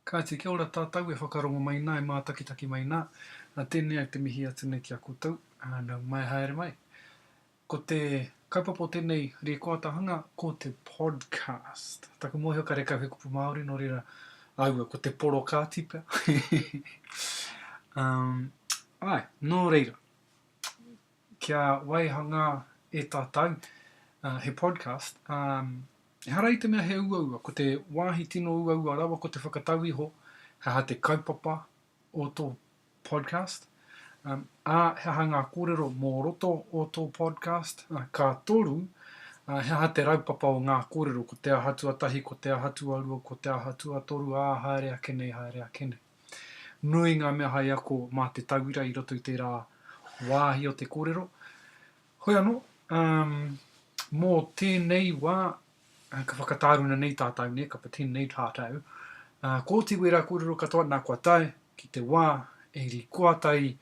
Kāti, kia ora tātou e whakarongo mai nā, e mātakitaki mai nā. Nā tēnei au te mihi atu nei ki a koutou, nau mai haere mai. Ko te kaupapa o tēnei rēkoatahanga ko te podcast. Taku mōhio karekau he kupu Māori nō reira aua ko te porokāti pea. um, ai, nō reira, kia waihangā e tātou uh, he podcast, um, Ehara i te mea he uaua, ko te wāhi tino uaua rawa ko te whakatau iho he aha te kaupapa o tō podcast, ā, he aha ngā kōrero mō roto o tō podcast, ka toru, ā, he aha te raupapa o ngā kōrero, ko te aha tuatahi, ko te aha tuarua, ko te aha tuatoru, ā, haere ake nei, haere ake nei. Nui ngā mea hai ako mā te tauira i roto i tērā wāhi o te kōrero, Hoi anō, ā, mō tēnei wā, ka whakatāruna nei tātou, nē, ka pretend nei tātou, ā, kōti wērā kōrero katoa, nā kua tae ki te wā e rikoata i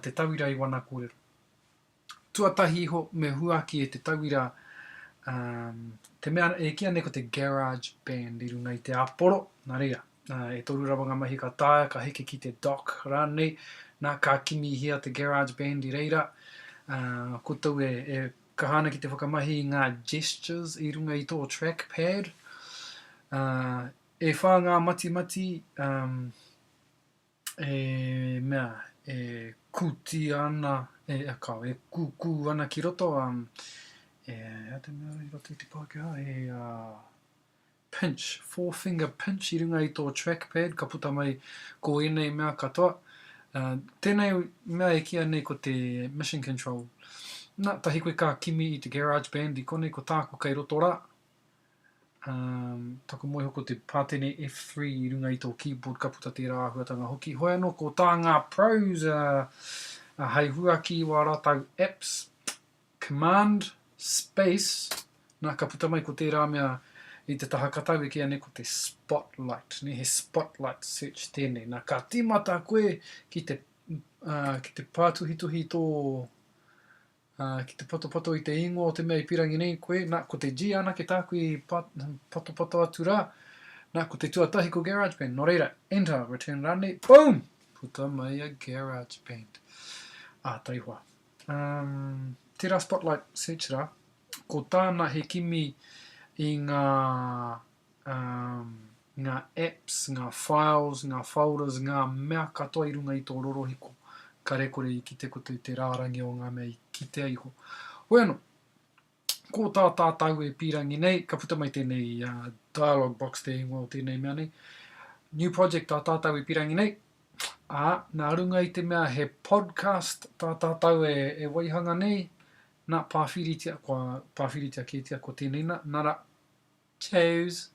te tauira i wana kōrero. Tuatahi iho, me huaki e te tauira, ā, te mea e kīa nei ko te garage band i runga i te āporo, nā reira. E toru rawa ngā mahi ka taea, ka heke ki te dock rānei, nā, ka kimihia te garage band i reira. Koutou e kaha ana ki te whakamahi i ngā gestures i runga i tō track pad. E whā ngā matimati, e mea, e kūtia ana, e kao, e kūkū ana ki roto, e, e a te mea i roto i te Pākehā, e, Pinch, four finger pinch i runga i tō track pad ka puta mai ko ēnei mea katoa. Tēnei mea e kīa nei ko te Mission Control. Na, tahi koe ka kimi i te Garage Band i konei ko tāku kei roto rā. Um, taku moeho ko te pātene F3 i runga i tō keyboard ka puta tērā āhuatanga hoki. Hoi anō ko tā ngā pros uh, uh, hai huaki i wā rātau apps. Command space, na ka puta mai ko tērā mea i te taha ka taue ki a nei ko te spotlight, ne he spotlight search tēnei, na ka timata koe ki te ki te pātuhituhi i tō ki te patopato i te ingoa o te mea i pirangi nei koe, na ko te G anake tāku i patopato atu rā, na ko te tuatahi ko GarageBand, nō reira, enter, return rānei, boom! Puta mai a GarageBand. Ā, taihoa. Um, tērā Spotlight Search rā, ko tāna he kimi i ngā, um, ngā apps, ngā files, ngā folders, ngā mea katoa i runga i tō rorohiko, kare kore i kite koutou te rārangi o ngā mea i kitea iho. Hoi anō, Ko tā tātau e pīrangi nei, ka puta mai tēnei dialogue box te ingoa o tēnei mea nei, new project tā tātau e pīrangi nei, ā, nā runga i te mea he podcast tā tātau e, e waihanga nei, nā, pāwhiritia, kua pāwhiritia kētia ko tēnei nā, nara, Cheers!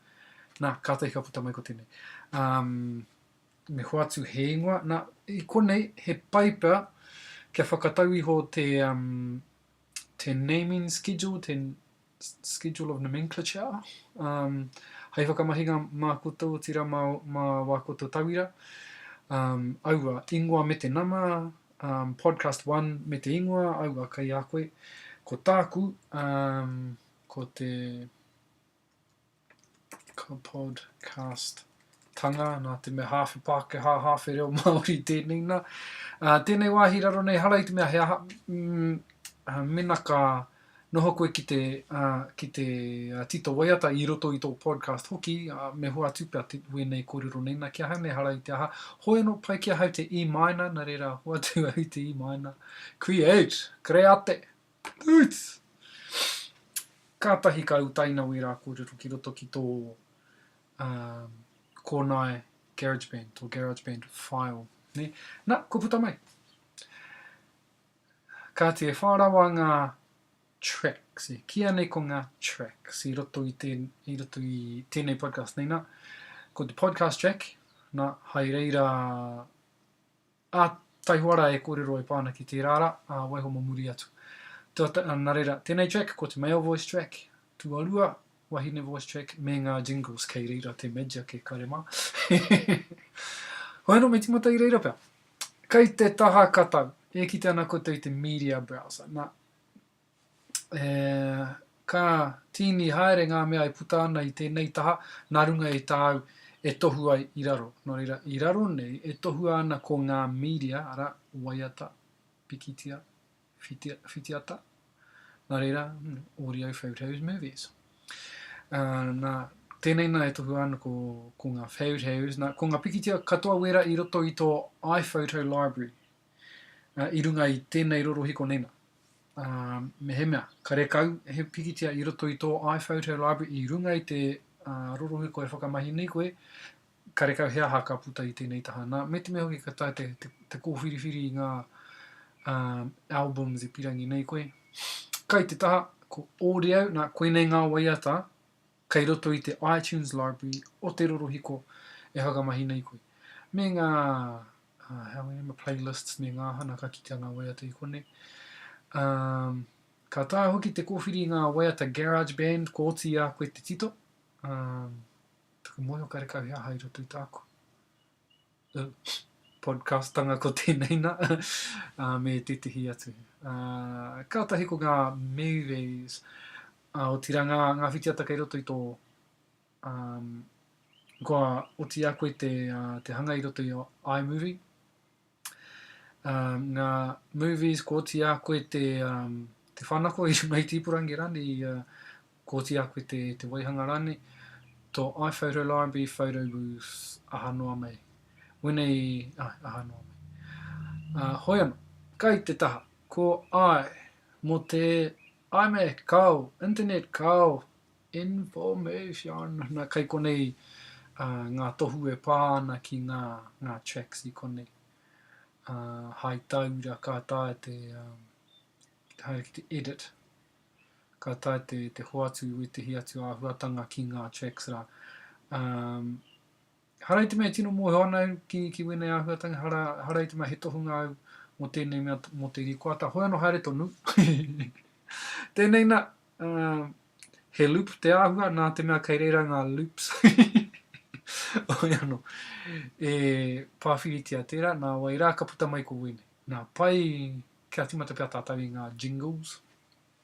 Nā, kātahi ka puta mai ko tēnei. Um, me hoatu he ingoa. Nā, i konei, he pai pea kia whakatau iho te, um, te naming schedule, te schedule of nomenclature, um, hai whakamahinga mā koutou, tira mā, mā wā koutou tauira. Um, aua, ingoa me te nama, um, podcast one me te ingoa, aua, kai a koe. Ko tāku, um, Ko te Kapodcast tanga, nā te mea hāwhe Pākehā, hāwhe reo Māori tēnei nā. Uh, tēnei wāhi raro nei, hara i te mea he aha, mm, uh, mena ka noho koe ki te, uh, ki te uh, tito waiata i roto i tō podcast hoki, uh, me hoa atu pia te wēnei kōrero nei, nā ki ahau nei hara i te aha, hoi anō pai ki ahau te E minor, nā reira, hoa atu au i te E minor. Create, create! Toots! Kātahi ka utaina wērā kōrero ki roto ki tō kōnae GarageBand, tō GarageBand file, nē. Nā, kua puta mai. Kāti e whā rawa ngā tracks, e kīia nei ko ngā tracks i roto i, tēn, i roto i tēnei podcast nei. Nā, ko te podcast track, nā, hai reira Ā, taihoa rā e kōrero e pā ana ki tērā rā, ā, waiho mō muri atu. Tua, nā reira, tēnei track, ko te male voice track, tuarua, wahine voice track, me ngā jingles kei reira te magic e kare mā. Hoi anō, me tīmata i reira pea. Kei te taha katau, e kite ana koutou i te media browser, nā, e, ka, tīni haere ngā mea e puta ana i tēnei taha, nā runga i tāu e tohu ai i raro. Nō reira, i raro nei, e tohua ana ko ngā mīria, arā, waiata, pikitia, whitia, whitiata, nā reira, hmm, Audio Favourite Heroes Movies. Uh, nā, tēnei nā e tohua ana ko, ko ngā Favourite Heroes, nā, ko ngā pikitia katoa wera i roto i tō iPhoto Library, i runga i tēnei rorohiko nei nā. Mehemea, karekau he pikitia i roto i tō iPhoto Library i runga i te rorohiko e whakamahi nei koe, karekau he aha ka puta i tēnei taha. Nā, me te mea hoki ka tae te, te, te kōwhiriwhiri i ngā um, albums e pirangi nei koe. Kai te taha, ko Ōreau, nā, koinei ngā waiata Kei roto i te iTunes Library o te rorohiko e whakamahi nei koe. Me ngā uh, playlists me ngā hana ka kitea ngā waiata i kone. Um, ka taha hoki te kōwhiri i ngā waiata garage band ko oti a koe te tito. Um, taku moe o karekau he aha i roto i tāku. podcastanga ko tēnei nā, ā, me tētehi atu. Ā, kātahi ko ngā movies, ā, otirā ngā, ngā whitiata kei roto i tō, ā, kua oti a koe te, ā, te hanga i roto i iMovie, ngā movies kōti a koe te te whanako i runga i te ipurangi rānei i kōti a koe te te waihanga rānei tō iPhoto Library Photo Booth aha noa mai wenei aha noa mai hoi ana kai te taha ko ai mō te iMac kāo internet kāo Information Na kai konei nga tohu e pa ana ki nga nga tracks i konei Hai taura ka taea te te haere ki te edit ka taea te te hoatu i wetahi atu ahuatanga ki nga tracks ra umm. Hara i te mea e tino mōhio ana au ki, ki wēnei āhuatanga, hara, hara i te mea he tohunga au mō tēnei mea, mō te rīkoata, hoi anō haere tonu. Tēnei nā, uh, he loop te āhua, nā te mea kei reira ngā loops. Hoi anō, e pāwhiritia tērā, nā wai rā ka puta mai ko wēnei. Nā, pai, kia tīmata pea tātou i ngā jingles.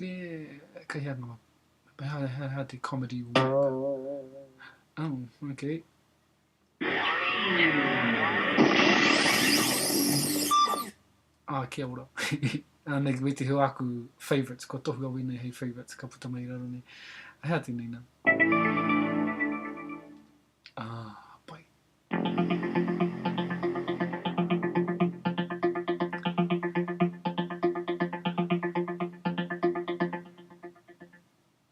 E, kei hea noa. Hea, hea, hea te comedy work. Oh, okay. Ah, kia ora. Anei, wei te hua aku favourites, kua tohu a wēnei hei favourites, ka puta mai raro nei. Hea tēnei nā. Ah, pai.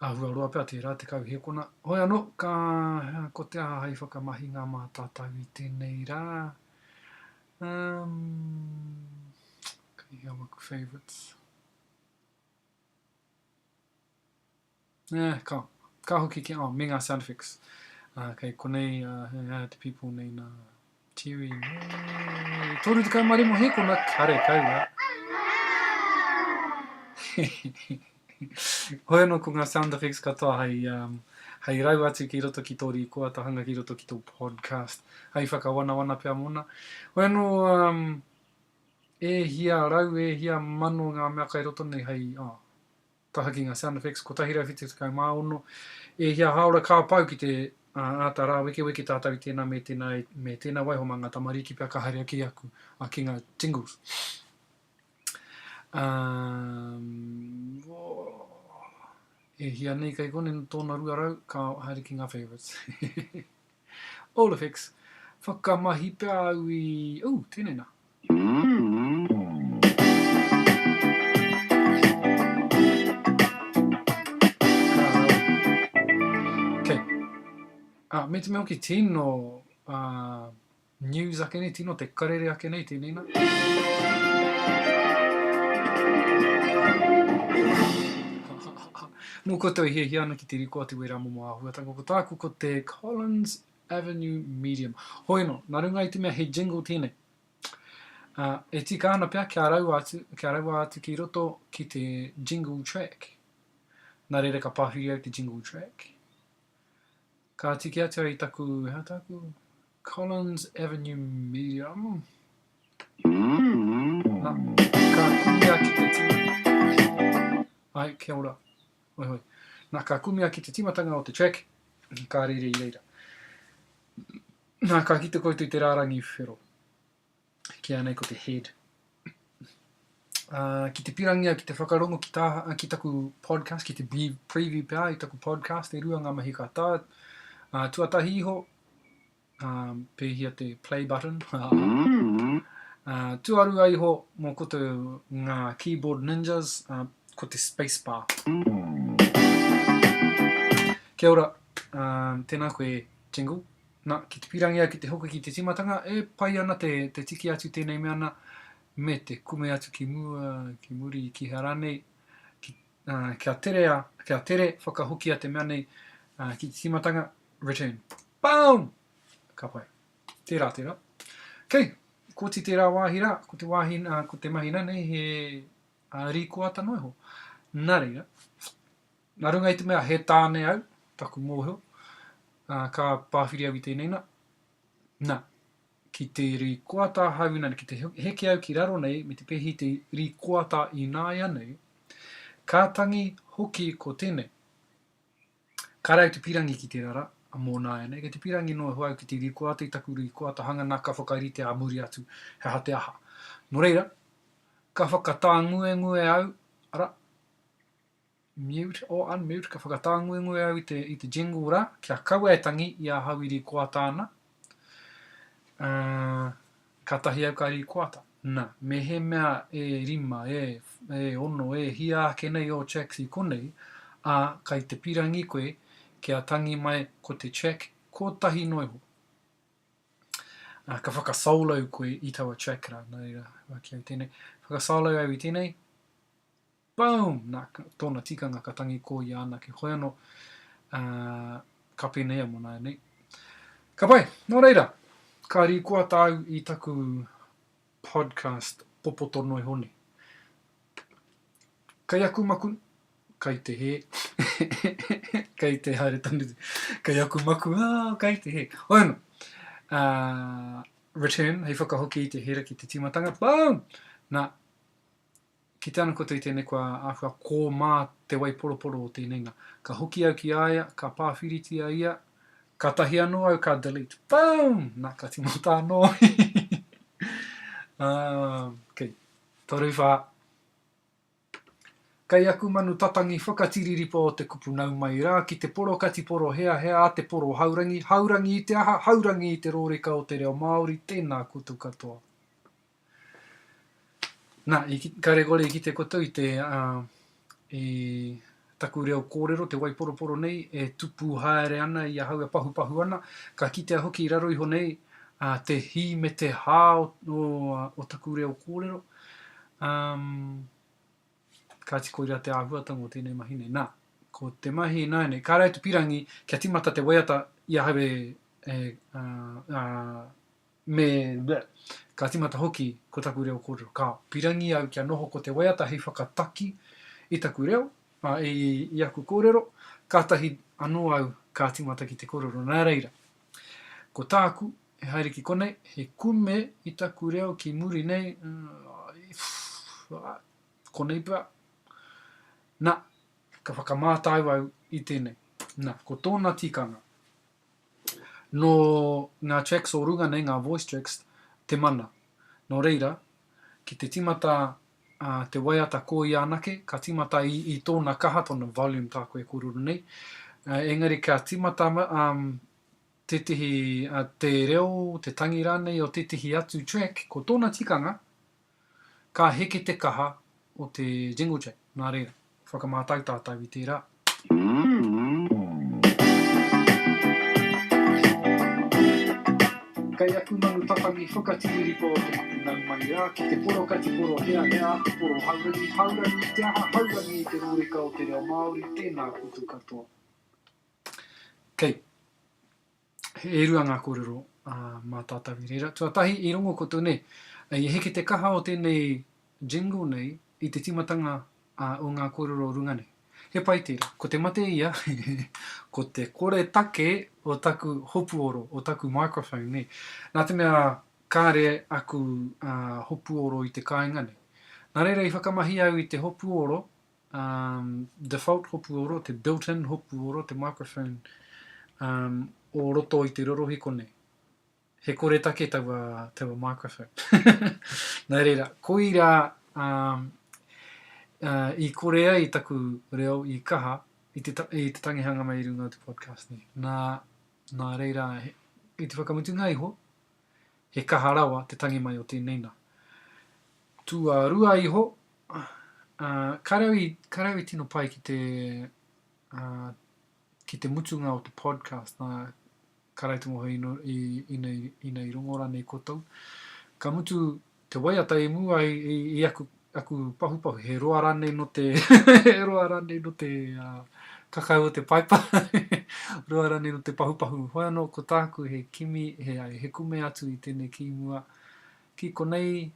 Āhua roa pea tērā te kau hēkona. Hoi anō, ka, ko te aha hai whakamahinga mā tātou i tēnei rā? Um, kei hea waku favourites? Eh, ka, ka hoki ki, oh, me ngā sound effects. Uh, kei konei, uh, eh, eh, te people nei nā Terry, nei, 35 hekona, kare kaua. Hoi anō ko ngā sound effects katoa hai, um, hai rau atu ki roto ki tō rīkoa, ta hanga ki roto ki tō podcast, hai whakawanawana pia mōna. Hoi anō, um, e hia rau, e hia mano ngā mea kai roto nei hai, oh, Taha ki ngā sound effects 176. E hia hāora ka pau ki te āta rāwekeweke tātou i tēnā me tēnā me tēnā waiho mā ngā tamariki pea ka haere ake aku ki ngā jingles. E hia nei kei konei tōna 200 ka haere ki ngā favourites. Olefix, whakamahi pea au i, ooh, tēnei nā. Kei. Ā, me te mea hoki, tino, ā. News ake nei, tino te karere ake nei tēnei nā. Mō koutou e hiahia ana ki te riko atu i wērā momo āhuatanga, ko tāku ko te Collins Avenue Medium. Hoi anō, nā runga i te mea he jingle tēnei, ā, e tika ana pea kia raua atu, kia raua atu ki roto ki te jingle track. Nā reira ka pāwhiri au te jingle track. Ka tiki atu au i taku, he aha tāku? Collins Avenue Medium. Na, ka kumia ki te tima. Ai, kia ora. Hoi hoi. Na, ka kumia ki te timatanga o te track, ka rere i reira. Na, ka kite koutou te rārangi whero. Kīa nei ko te head. Ā, ki te pirangia, ki te whakarongo ki, tā, ki taku podcast, ki te preview pea i taku podcast, e rua ngā mahi ka tā. Ā, tuatahi iho, ā, pēhia te play button. ā, tuarua iho, mō koto ngā keyboard ninjas, ā, ko te space bar. Kia ora, ā, tēnā koe jingle. Na, ki te pirangia ki te hoki ki te timatanga, e pai ana te, te tiki atu tenei mea na, me te kume atu ki mua, ki muri, ki hea ranei, ki, uh, kia tere, a, kia tere whakahokia te mea nei uh, ki te timatanga, return. Boom! Ka pai. Tera, tera. Kei, koti tera wahi ra, ko te wahi, uh, ko te mahi nanei he uh, rikoata noho. Na reira. Nā runga i te mea he tāne au, taku mōhio, ā, ka pāwhiri au i tēnei nā. Nā, ki te rīkoata ahau ināianei, ki te heke au ki raro nei me te pēhi i te rīkoata ināianei, ka tangi hoki ko tēnei. Kāre au te pīrangi ki te rara, a mō nāianei, kei te pīrangi noa iho au ki te rīkoata i taku rīkoata hanga nā ka whakaritea ā muri atu he aha te aha. Nō reira, ka whakatānguengue au, arā, Mute or unmute, ka whakatānguengue au i te, i te jingle rā, kia kaua e tangi i a hau i rīkoata ana. Uh, katahi au ka rīkoata. Na, me he mea e rima, e, e ono, e hia ake nei o checks i konei, a, kai te pirangi koe, kia tangi mai ko te check kotahi noa iho. Uh, ka whakasolo koe i taua check rā, nā reira, waki au tēnei. Whakasolo au i tēnei. Boom! Nā, tōna tikanga ka tangi ko ia anake hoi anō, ā, ka pēnei a Manaia nei. Ka pai, nō reira, ka rīkoa tāu i taku podcast popoto noa iho nei. Kei aku maku, kei te hē, kei te haere tonu, kei aku maku, ā, kei te hē. Hoi anō, ā, return, hei whakahoki i te hēra ki te tīmatanga, boom! Nā, Ki te ana koutou i tēnei kua āhua kō mā te waiporoporo o tēnei nā. Ka hoki au ki a ia, ka pāwhiritia ia, kātahi anō au ka delete. Boom! Nā, ka tīmata anō. um, ok, toru whā. Kei aku manu tatangi whakatiriripa o te kupu nau mai rā ki te poro kati poro hea hea a te poro haurangi, haurangi i te aha, haurangi i te rōreka o te reo Māori, tēnā koutou katoa. Na, i ki, kare kore i kite koutou i te, uh, i taku reo kōrero, te waiporoporo nei, e tupu haere ana i ahau, e pahupahu ana, ka kitea hoki i raro iho nei, uh, te hī me te hā o, o, o taku reo kōrero. Um, kāti koirā te āhuatanga o tēnei mahi nei. Nā, ko te mahi ināianei, kāre atu pirangi kia timata te waiata i ahau e, e, uh, uh, Me, me, ka timata hoki ko taku reo korero. Ka pirangi au kia noho ko te waiata hei whakataki i taku reo, a, i, i aku korero, katahi ano au ka timata ki te korero. Na reira, ko taku, he haere ki konei, he kume i taku reo ki muri nei, uh, a, konei pea. Na, ka whakamātau au i tenei. Na, ko tona tikanga. Nō ngā tracks o runga nei, ngā voice tracks, te mana. Nō reira, ki te tīmata te waiata ko ia anake, ka tīmata i tōna kaha, tōna volume tāku e kōrero nei. Engari ka tīmata tētehi, te reo, te tangi rānei o tētehi atu track, ko tōna tikanga, Ka heke te kaha o te Jinglejack, nā reira, whakamātau tātou i tērā. Kei aku manu tatangi whakatiriripo o te mate nau mai rā ki te poro kati poro heahea atu poro haurangi haurangi i te aha haurangi i te rōreka o te reo Māori tēnā koutou katoa kei He rua ngā kōrero mā tātou i reira. Tuatahi, i rongo koutou nei, i heke te kaha o tēnei jingle nei i te tīmatanga o ngā kōrero runga nei. He pai tērā. Ko te mate ia, ko te koretake o taku hopuoro, o taku microphone nei. Nā te mea kāre aku hopuoro i te kāinga nei. Nā reira i whakamahi au i te hopuoro um, default hopu oro, te built-in hopu oro, te microphone um, o roto i te rorohi konei. He kore take taua, taua microphone. Nā reira, koira um, uh, i kore ai taku reo i kaha i te, i te tangihanga mai i runga o te podcast nei. Nā, nā reira, i te whakamutunga iho, He kaha rawa te tangi mai o tēnei nā. Tuarua iho, ā, ka rau i, ka rau i tino pai ki te, ā, ki te mutunga o te podcast, nā, ka rau te ngohe i, i, i, nei, i nei rongo rānei koutou. Ka mutu Te waiata i mua i aku pahupahu, he roa ranei no te he roa ranei no te kakau o te paipa, roa ranei no te pahupahu. Hoi ano ko taku he kimi, he kume atu i tenei ki mua, ki konei,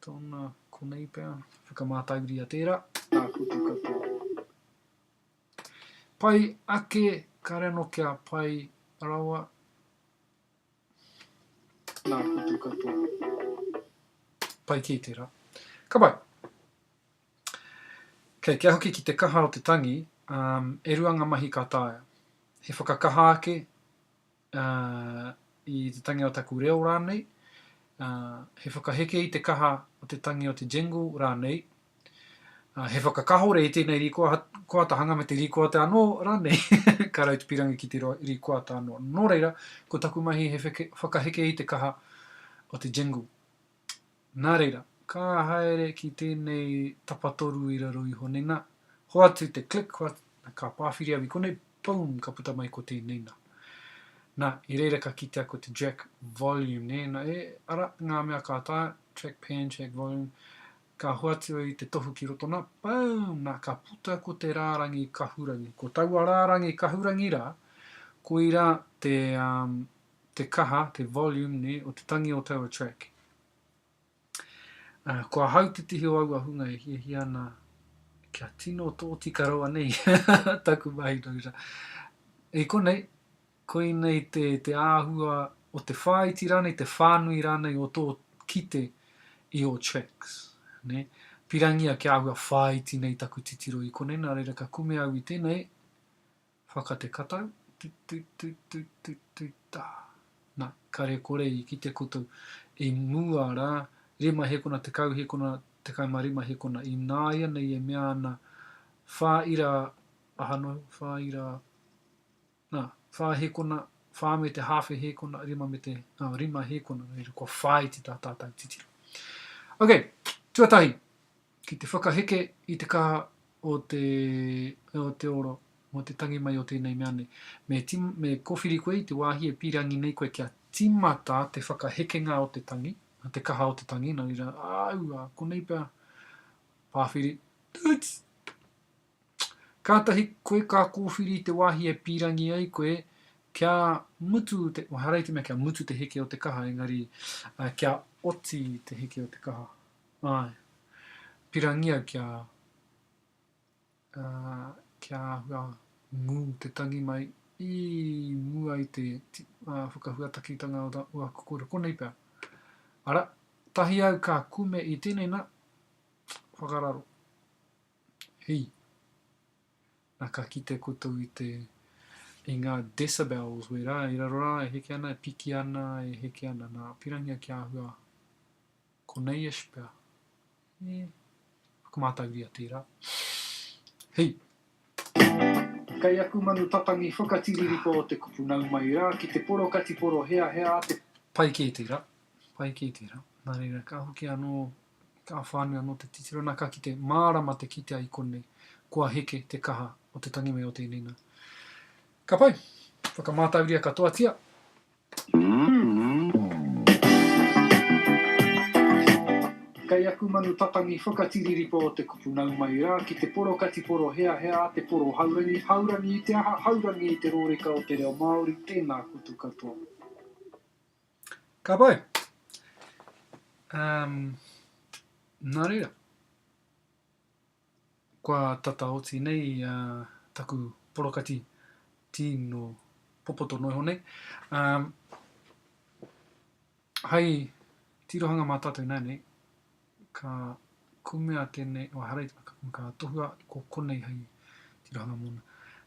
tona, konei pea, whakamatauriia tera. Ka putu katoa. Pai ake, kare ano kia pai rawa. Nā kutu katoa. Pai kē tērā. Ka pai. Kei, kia hoki ki te kaha o te tangi, um, e rua ngā mahi ka taea. He whakakaha ake uh, i te tangi o taku reo rānei, uh, he whakaheke i te kaha o te tangi o te jingle rānei, He whakakahore i tēnei rīkoata hanga me te rīkoata anō rānei, ka rau te pirangi ki te rīkoata anō. Nō reira, ko taku mahi he whakaheke i te kaha o te jingle. Nā reira, ka haere ki tēnei tapatoru i raro iho nei nā, hoatu te click, ka pāwhiri au i konei, boom, ka puta mai ko tēnei nā. Nā, i reira ka kitea ko te jack volume, nē, nā, e, ara, ngā mea ka taea, track pan, jack volume, Ka hoatu i te tohu ki roto na, boom, na ka puta ko te rārangi kahurangi. Ko taua rārangi kahurangi rā, koirā te, um, te kaha, te volume, nē, o te tangi o taua track. Uh, ko ahau te tihi o aua hunga e hiahia ana kia tino tōtika rawa nei taku mahi, no, I konei, Koinei te, te āhua o te whāiti rānei, te whānui rānei o tō kite i ō tracks. Nē? Pirangia kia āhua whāiti nei taku titiro i konei, nā reira ka kume au i tēnei whakate katau, tut tut tut tut tut tut tā. Nā, kare kore i kite koutou i mua rā, rima hekona, tekau hekona, tekau mā rima hekona, ināianei e mea ana, whā ira, aha noa, whā ira, Nā, whā hīkona, whā me te hāwhe hīkona, rima me te, ā, rima hīkona, nō reira, kua whāiti tā tātau titiro. Ok, tuatahi, ki te whakaheke i te kaha o te, o te oro, o te tangi mai o tēnei mea nei. Me, ti, me kōwhiri koe i te wāhi e pīrangi nei koe kia tīmata te whakahekenga o te tangi, o te kaha o te tangi, nō reira, āu, ā, konei pea, pāwhiri, tūts! Kātahi koe ka kōwhiri i te wāhi e pīrangi ai koe kia mutu te, oh, harai te mea kia mutu te heke o te kaha, engari uh, kia oti te heke o te kaha. Ai, pirangi au kia, uh, kia hua ngū te tangi mai i mua i te uh, whakahuatakitanga o ta, ua kukura, konei pea. Ara, tahi au ka kume i tēnei na, whakararo. He. Na ka kite koutou i te, i nga decibels wera i raro ra e heke ana, e piki ana, e heke ana. Na, pirangia ki ahua, Konei-ish pea. He. Whakamātauria tera. He. Kei aku manu patangi whakatiririko o te kupu nau mai ra ki te poro kati poro hea hea a te. Pai ke tera, pai ke tera. Na reira ka hoki ano Ka whānui anō te titiro nā ka kite mārama te kitea i konei, kua heke te kaha o te tangi me o tēnei nā. Ka pai! Whakamātauria katoatia! Kei aku manu tatangi whakatiriripa o te kupu nau mai rā ki te poro kati poro heahea a te poro haurangi, haurangi i te aha, haurangi i te rōreka o te reo Māori, tēnā koutou katoa. Ka pai. Um, nā reira. Kua tata oti nei uh, taku porokati tino popoto no iho nei. Um, hai tirohanga mā tātou nā nei, Ka kume a tēnei, oh, ahara i te waka, ka tohua atu ko konei hei tirohanga mōna.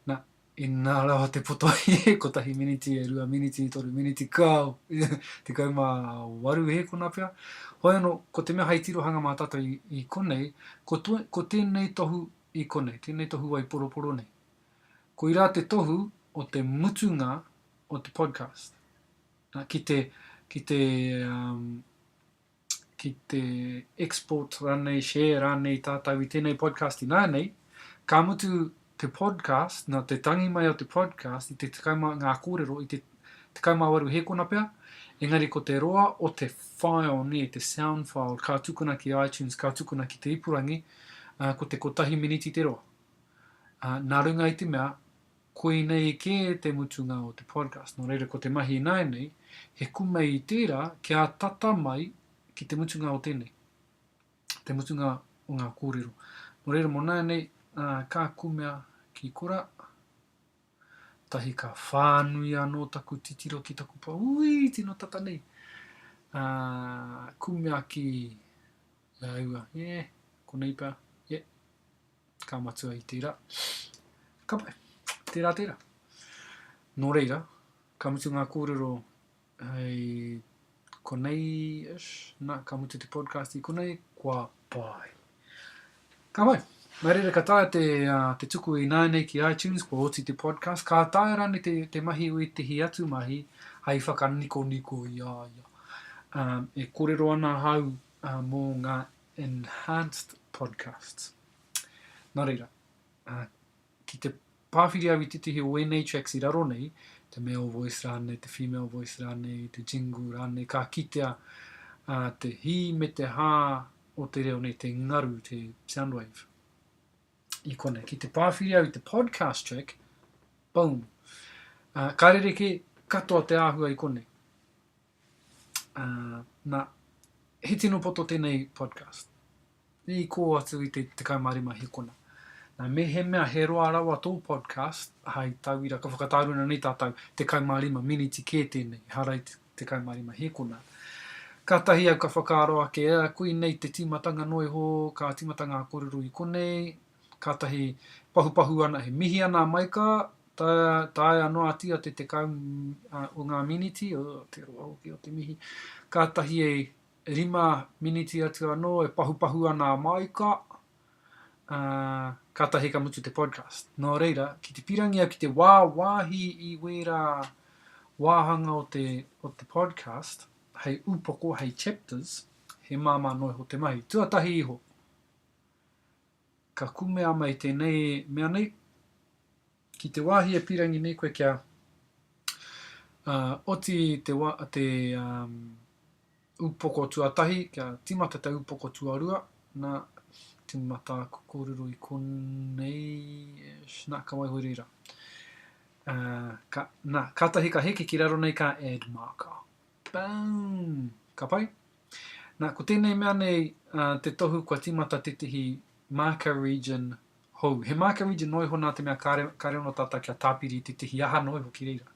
Na, inā rawa te poto ai e kotahi miniti, e rua miniti, toru miniti, kāo, tekau mā waru hē kona pea. Hoi anō, ko te mea hei tirohanga mā tātou i, i konei, ko, to, ko tēnei tohu i konei, tēnei tohu wai poroporo nei. Ko irā te tohu o te mutunga o te podcast. Na, ki te, ki te, um, ki te export ranei, share ranei tatou i tenei podcast inanei, ka mutu te podcast, na te tangi mai o te podcast i te tekau ma, nga korero i te tekau ma waru hekona pea, engari ko te roa o te file ne, te sound file, ka tukuna ki iTunes, ka tukuna ki te ipurangi, ko te kotahi miniti te roa. Na runga i te mea, Koinei kē te mutunga o te podcast, nō reira ko te mahi ināianei, he kume i tērā kia tata mai ki te mutunga o tēnei, te mutunga o ngā kōrero. Nō reira mō nāianei, ka kumea ki korā, tahi ka whānui anō taku titiro ki taku pa, ui, tino tata nei, ā, kumea ki, e ai ua, e, konei pea, e. Ka matua i tērā. Ka pai. Tērā, tērā. Nō reira, ka mutu ngā kōrero hei konei-ish, nā, ka mutu te podcast i konei, kua pai. Ka pai. Nā reira, ka taea te, uh, te tuku i nāinei ki iTunes, kua oti te podcast. Ka taea rānei te, te mahi o ētehi atu mahi hei whakanikoniko i a ia. Um, e kōrero ana hau uh, mō ngā Enhanced Podcasts. Nā reira, ki te pāwhiri au i tētahi o ēnei tracks i raro nei, te male voice rānei, te female voice rānei, te jingle rānei, ka kitea uh, te hī me te hā o te reo nei, te ngaru, te sound wave. I kona, ki te pāwhiri au i te podcast track, boom. Uh, ka rere ke katoa te āhua i kone. Uh, na, he tino poto tenei podcast. I ko atu i te 15 hikona. Na, me he mea he roa rawa tō podcast, hai tauira, ka whakataruna nei tātou, 15 miniti kē tēnei, harai 15 hikona. Katahi au ka whakaaro ake, ea, koinei te timatanga noiho, ka timata ngā korero i konei, Kātahi pahupahu ana, he mihi ana a Maika, taea noatia te tekau o ngā miniti, oh, te roa hoki o te mihi, kātahi e rima miniti atu anō e pahupahu ana a Maika, kātahi ka mutu te podcast. Nō reira, ki te pirangi au ki te wāwāhi i wērā wāhanga o te, o te podcast, hei upoko, hei chapters, he māmā noa iho te mahi. Tuatahi iho, Ka kume ama i tēnei mea nei, ki te wāhi e pīrangi nei koe kia oti te upoko tuatahi, kia tīmata te upoko tuarua, nā, tīmata aku kōrero i konei, nā, ka waiho reira. Nā, kātahi ka heke ki raro nei ka add marker. Boom! Ka pai? Nā, ko tēnei mea nei te tohu kua tīmata tētehi marker region hou. He marker region noa iho nā te mea kāre, kāre anō tātou kia tāpiri i tētehi aha noa iho ki reira.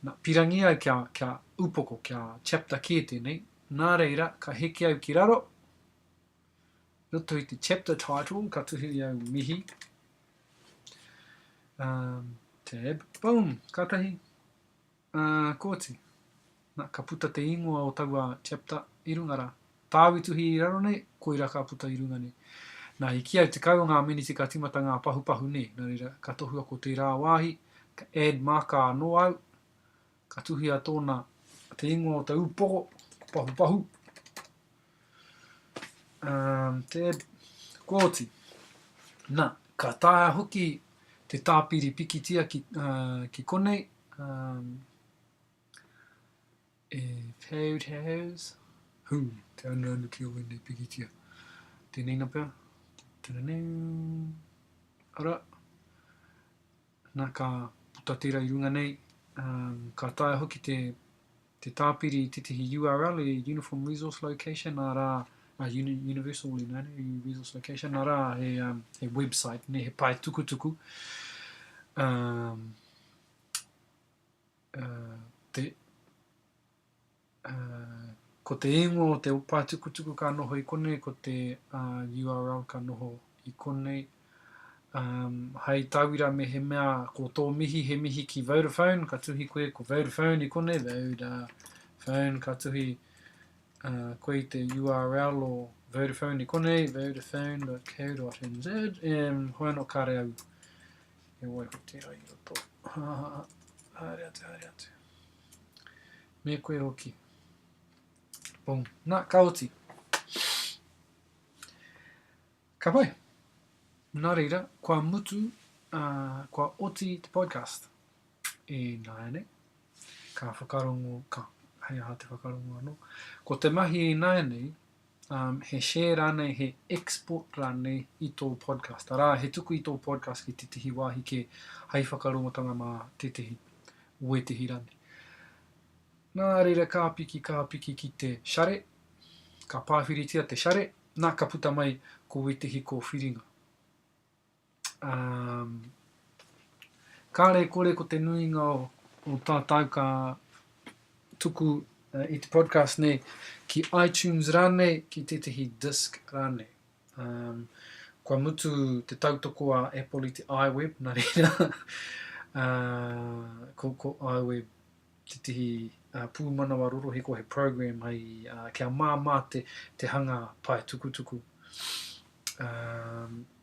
Nā, pīrangi ai kia, kia upoko, kia chapter kē tēnei, nā reira, ka heke au ki raro, i roto i te chapter title, ka tuhiri au mihi, um, tab, boom, kātahi, Ā, kooti. Na, ka puta te ingoa o taua chapter i runga ra. Tāu i tuhi i raro nei, koira ka puta i runga nei. Na, i kīa e tekau o ngā miniti ka timata ngā pahupahu nē, na reira, ka tohua ko tērā wāhi, ka add marker anō au, ka tuhia tōna, te ingoa o ta ūpoko, pahupahu. Um, te kōti. Na, ka taea hoki te tāpiri pikitia ki, uh, ki konei. Um, e paid has, hu, te anu anu ki o wēnei pikitia. Tēnei na pea. Tēnei. Ara. Na, ka puta tērā i runga nei, ka taea hoki te te tāpiri i tētahi URL i Uniform Resource Location, nā rā, uh, Universal Uli, nā, Resource Location, nā rā, he, um, he website, ne, he pae tukutuku, um, uh, te, Ko te ingoa o te paetukutuku ka noho i konei, ko te URL ka noho i konei. Hai tauira mehemea ko tō mihi he mihi ki Vodafone, ka tuhi koe ko Vodafone i konei, Vodafone, ka tuhi koe i te URL o Vodafone i konei, vodafone.co.nz, e hoi anō kāre au e waiho tērā i roto. Haere atu, haere atu. Me koe hoki. Pong. Na, ka oti. Ka pai. Na reira, kua mutu, uh, kua oti te podcast. E nāianei, ka whakarongo, ka hei aha te whakarongo anō. Ko te mahi e nāianei, um, he share rānei, he export rānei i tō podcast, arā, he tuku i tō podcast ki tētehi wāhi kē, hai whakarongotanga mā tētehi, wētehi rānei. Nā reira ka piki, ka piki ki te share, ka pāwhiritia te share, nā ka puta mai ko wētehi kōwhiringa. Um, kāre kore ko te nuinga o, o tātou ka tuku uh, i te podcast nei ki iTunes rānei, ki tētahi disc rānei. Um, kua mutu te tautoko a Apple i te iWeb, nā reira, uh, ko, ko iWeb tētahi uh, pūmanawa rorohi ko he program hai uh, kia māmā te, te hanga pae tukutuku. Um,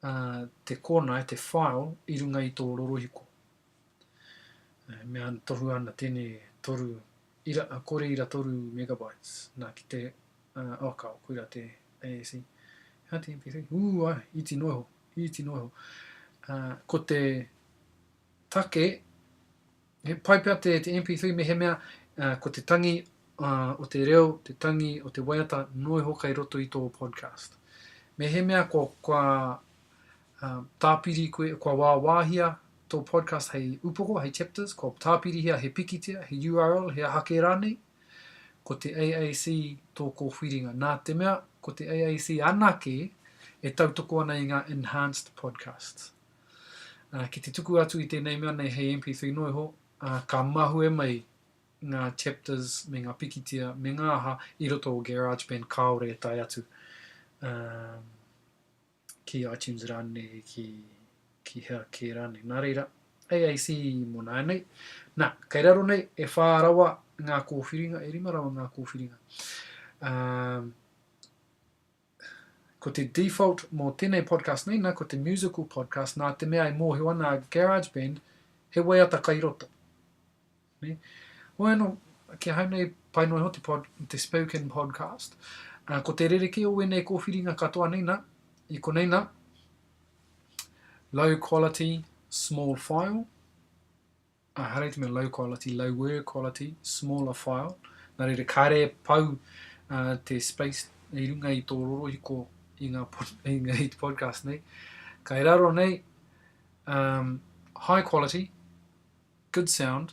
te kōnae, te file, i runga i tō rorohiko. E mea ana, tohua ana tēnei toru ira, kore ira toru megabytes, nā ki te, uh, oh, ka, koira te AAC. Hea te MP3? Ū, ai, iti noa iho, iti noa iho. Uh, ko te take, He pai pea te MP3 mehemea ko te tangi o te reo, te tangi o te waiata noa iho kei roto i tō podcast. Mehemea kua tāpiri koe, kua wāwāhia tō podcast hei upoko, hei chapters, kua tāpirihia he pikitia, he URL, he aha kē rānei, ko te AAC tō kōwhiringa. Nā te mea ko te AAC anake e tautoko ana i ngā enhanced podcasts. Ki te tuku atu i tēnei mea nei hei MP3 noiho, ka mahue mai ngā chapters me ngā pikitia me ngā aha i roto o GarageBand kāore e tae atu ki iTunes rānei, ki, ki hea kē rānei. Nā reira, AAC mō nāianei. Nā, kei raro nei, e whā rawa ngā kōwhiringa, e rima rawa ngā kōwhiringa. Um, Ko te default mō tēnei podcast nei nā, ko te musical podcast nā te mea e mōhio ana a GarageBand he waiata kai roto. Ne? Hoi anō, kia hau nei, pai noa iho te, pod, te spoken podcast. Uh, ko te rerekē o wēnei kōwhiringa katoa nei nā, i konei nā, low quality, small file, I highlight me low quality, lower quality, smaller file. Nā reira, kāre e pau uh, te space i runga i tō rorohiko i ngā, pod, i ngā podcast nei. Kai raro nei, um, high quality, good sound,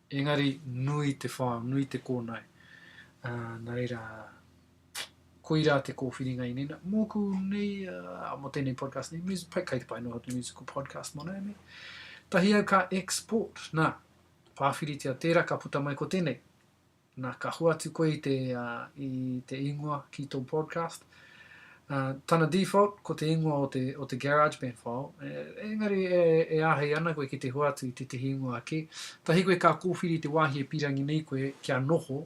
engari nui te file, nui te kōnae. Uh, nā reira, Koirā te kōwhiringa i nēnā. Mōku nei, uh, mō tēnei podcast nei, music, pai, kai te pai noho te musical podcast mō nei, nei. Tahi au ka export, nā, pāwhiritia tērā ka puta mai ko tēnei. Nā, ka hua atu koe i te, uh, i te ingoa ki tō podcast. Uh, tana default, ko te ingoa o te, o te GarageBand file. E, engari, e, e āhei ana koe ki te hua atu i tētahi ingoa ake. Tahi koe ka kōwhiri te wāhi e pīrangi nei koe kia noho,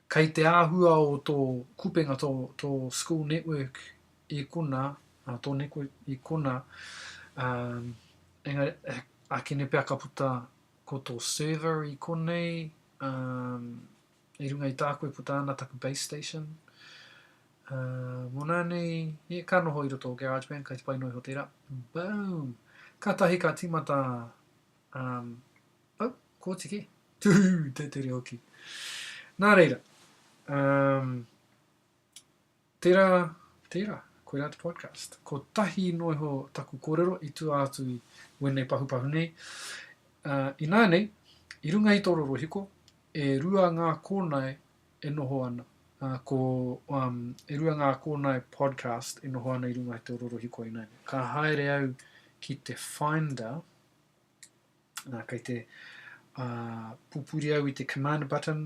Kei te āhua o tō kupenga tō, tō school network i kona, ā, tō network i kona, ā, engari, ākene pea ka puta ko tō server i konei, ā, i runga i tāku e puta ana taku base station, ā, mōnā nei, yeah, ka noho i roto o GarageBand, kei te pai noa iho tērā, boom! Kātahi ka tīmata, ā, Oh, kōtiki. Tūhū, tētere hoki. Nā reira, um, tērā, tērā, koe rā te podcast. Ko tahi noa iho taku kōrero i tua atu i wēnei pahupahu nei. Uh, inānei, i runga i tō rorohiko, e rua ngā kōnae e noho ana. Uh, ko, um, e rua ngā kōnae podcast e noho ana i runga i tō rorohiko inānei. Ka haere au ki te Finder, Nā, kei te uh, pupuri au i te command button,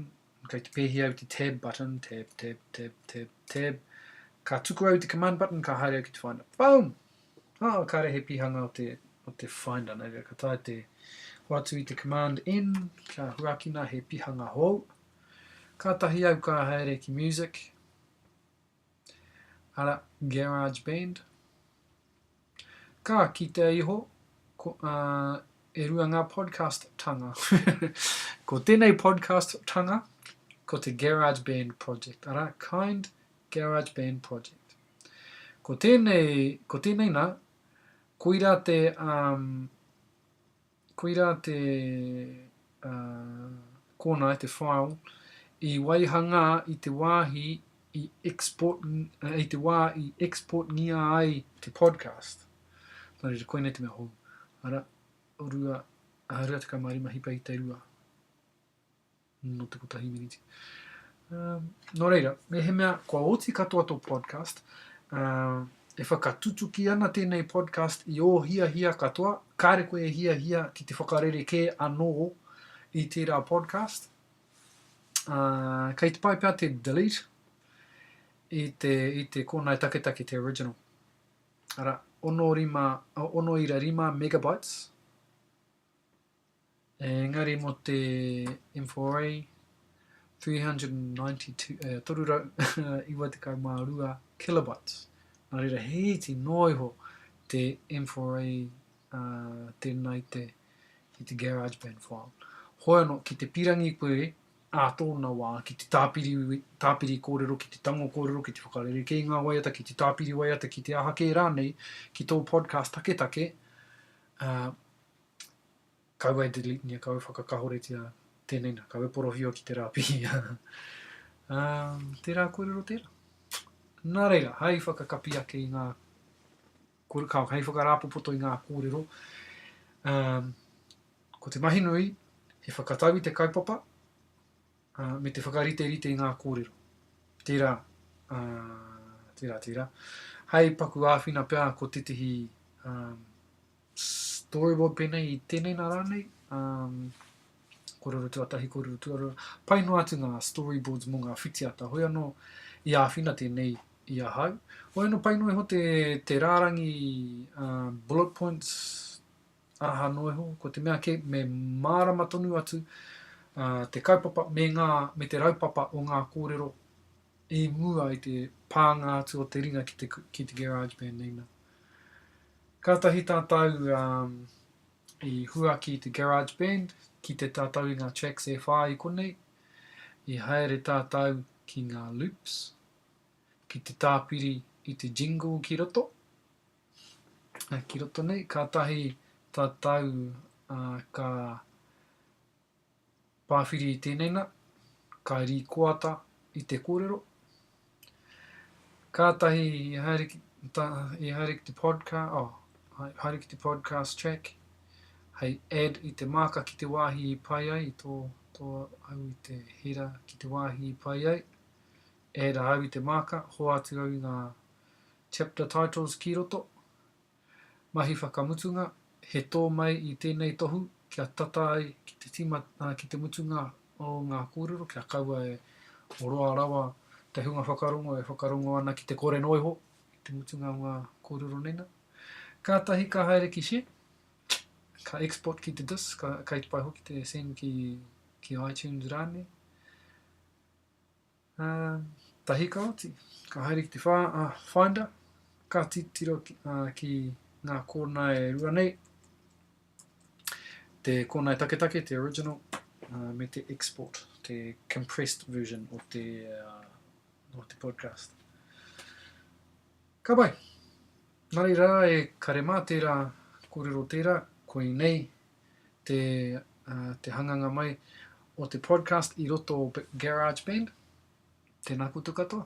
kei te pēhi au te tab button, tab, tab, tab, tab, tab. Ka tuku au te command button, ka haere au ki te finder. Boom! Ah, oh, kāre he pihanga o te, o te finder. Nei rā, ka tae te hoatu i te command N, kia huakina he pihanga hou. Ka tahi au ka haere ki music, arā, GarageBand. Ka kitea iho, ko, ā, e rua ngā podcast-tanga. ko tēnei podcast-tanga, ko te GarageBand Project, arā, Kind GarageBand Project. Ko tēnei, ko tēnei nā, koirā te, ā, Koirā te kōnae, te file, i waihangā i te wāhi i export, i te wā i exportngia ai te podcast. Nō reira, koinei te mea hou. Ara, 2, 25 hipa i te rua. Nō te kotahi miniti. Um, nō reira, mehemea, kua oti katoa tō podcast, uh, e whakatutuki ana tēnei podcast i ō hiahia katoa, kāre koe e hiahia ki te whakarere kē anō i tērā podcast. Uh, kei te pai pea te delete i te, i te kōnae taketake te original. Ara, ono, rima, ono ira rima megabytes, Engari mō te M4A 392 kilobytes, nā reira he iti noa iho te M4A tēnā i te GarageBand file. Hoi anō, ki te pīrangi koe ā tōna wā ki te tāpiri kōrero, ki te tango kōrero, ki te whakarerekē i ngā waiata, ki te tāpiri waiata, ki te aha kē rānei, ki tō podcast taketake, Kaua e deletengia, kaua e whakakahoretia, tēnei nā, kaua e porohio ki te rā pihi. Ā, tērā kōrero tērā. Nā reira, hai whakakapi ake i ngā, hai whakarāpopoto i ngā kōrero, ā, ko te mahi nui, he whakatau i te kaupapa, ā, me te whakariterite i ngā kōrero. Tērā, ā, tērā, tērā. Hai paku āwhina pea ko tētehi, ā, Storyboard pēnei i tēnei nā rānei, kōrero tuatahi, kōrero tuarua, pai noa atu ngā storyboards mō ngā whitiata, hoi anō i āwhina tēnei i ahau. Hoi anō pai noa iho te, te rārangi uh, bullet points, araha noa iho, ko te mea ke me mārama tonu atu uh, te kaupapa me, ngā, me te raupapa o ngā kōrero i mua i te pānga atu o te ringa ki te, ki te GarageBand nei nā. Kātahi tātou um, i huaki i te GarageBand ki te tātou i ngā tracks e whā i konei, i haere tātou ki ngā loops, ki te tāpiri i te jingle ki roto, uh, ki roto nei, kātahi tātou uh, ka Pāwhiri i tēnei nā, ka rīkoata i te kōrero. Kātahi i haere ki, ta, i haere ki te podcast, oh, haere ki te podcast track, hei add i te māka ki te wāhi i pai ai, i tō, tō au i te hera ki te wāhi i pai ai, add a au i te māka, hoatu au i ngā chapter titles ki roto, Mahi whakamutunga, he tō mai i tēnei tohu kia tata ai ki te tima, ā, ki te mutunga o ngā kōrero kia kaua e oroa rawa te hunga whakarongo e whakarongo ana ki te kore noa iho i te mutunga o ngā kōrero nei nā. Kātahi ka haere ki share, ka export ki te disk, ka, kei te pai hoki te send ki, ki iTunes rānei. Tahi ka oti, ka haere ki te whā, a Finder, ka titiro ki ngā kōnae e rua nei, te kōnae taketake, te original, me te export, te compressed version o te, uh, o te podcast. Ka pai! Nā reira e kare mā tērā kōrero tērā, koinei te, uh, te hanganga mai o te podcast i roto o GarageBand. Tēnā koutou katoa.